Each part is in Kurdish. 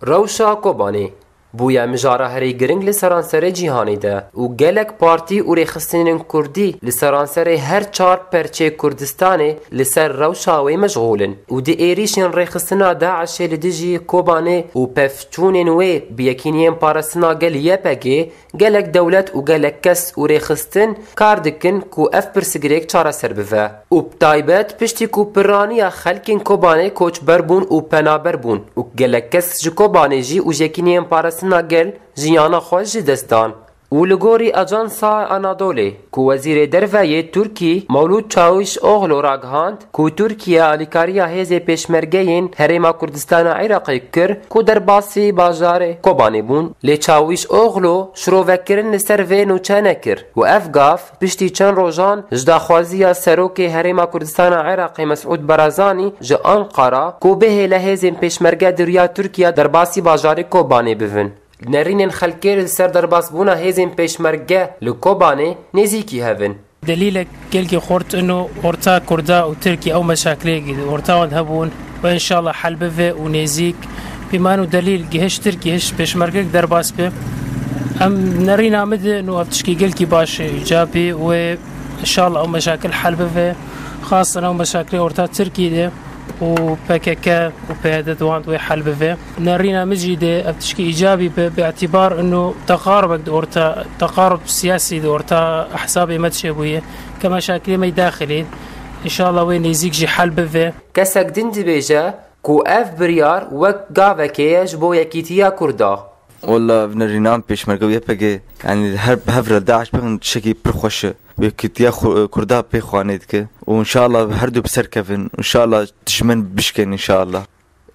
Rewşa Kobanê bûye mijara herî giring li seranserê cîhanê de û gelek partî û rêxistinên kurdî li seranserê her çar perçê Kurdistanê li ser rewşa wê meşxûl in û di êrîşên rêxistina DAIŞ'ê li dijî Kobanê û pevçûnên wê bi yekîniyên parastina gel YPG Gelek dewlet û gelek kes û rêxistin kar dikin ku ev pirsgirêk çareser bive û bi taybet piştî ku pirraniya xelkên Kobanê koçber bûn û penaber bûn û gelek kes ji Kobanê jî û jekîniyên parastina gel jiyana xwe ji dest dan û li gorî Ajansa Anadolê ku Wezîrê Derve yê Tirkî Mewlûd Çawiş Oxlu ragihand ku Tirkiye alîkariya hêzê pêşmergeyên Herêma Kurdistana Iraqê kir ku derbasî bajarê Kobanê bûn, lê Çawiş Oxlu şirovekirin li ser vê nûçe nekir û ev gav piştî çend rojan ji daxwaziya Serokê Herêma Kurdistana Iraqê Mesûd Barazanî ji Anqara ku bihêle hêzên pêşmerge di riya Tirkiye derbasî bajarê Kobanê bivin. Nêrînên xelkê li ser derbasbûna hêzên pêşmerge li Kobanê nêzîkî hev in. Delîlek gelkî xurt in û orta kurda û tirkî ew meşakileyekî di orta wan de hebûn û înşallah hel bive û nêzîk bî man û delîl gihiş tirkî hiş pêşmergek derbas be em nerîna min de in û ev tişkî gelkî baş e ca bê wê înşallah ew meşakil hel bive xasen ew meşakilê orta tirkî de û pkk û pyd di wan de wê hel bive. Nerîna min jî dê ev tişkî îcabî be bi îtîbar û teqarubek di orta teqarub siyasî di orta ehzabê me de çêbûye ke meşakilê me yê daxilî înşallah wê nêzîk jî hel bive. Kesek din dibêje ku ev biryar wek gavekê ye ji bo yekîtiya Kurd a. Walla ev nerîna min pêşmerge û YPG yanî li her bi hev re DAIŞ bi hin tiştekî pir xweş e. Yekîtiya Kurda pê xwe nêdike û înşallah her du bi ser kevin û înşallah dijmin bişkên înşallah.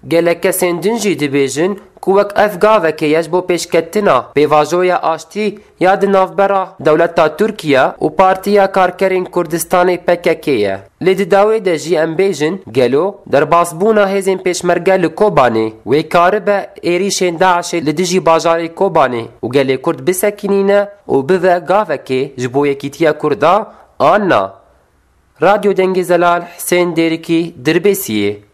Gelek kesên din jî dibêjin ku wek ev gavekê ye ji bo pêşketina pêvajoya aştî ya di navbera dewleta Tirkiye û Partiya Karkerên Kurdistanê pkk ye. Lê di dawê de jî em bêjin gelo derbasbûna hêzên pêşmerge li Kobanê wê karibe êrîşên DAIŞ'ê li dijî bajarê Kobanê û gelê Kurd bisekînîne û bibe gavekê ji bo yekîtiya Kurd a an na. Radyo Dengê Zelal Husên Dêrikî Dirbêsiyê.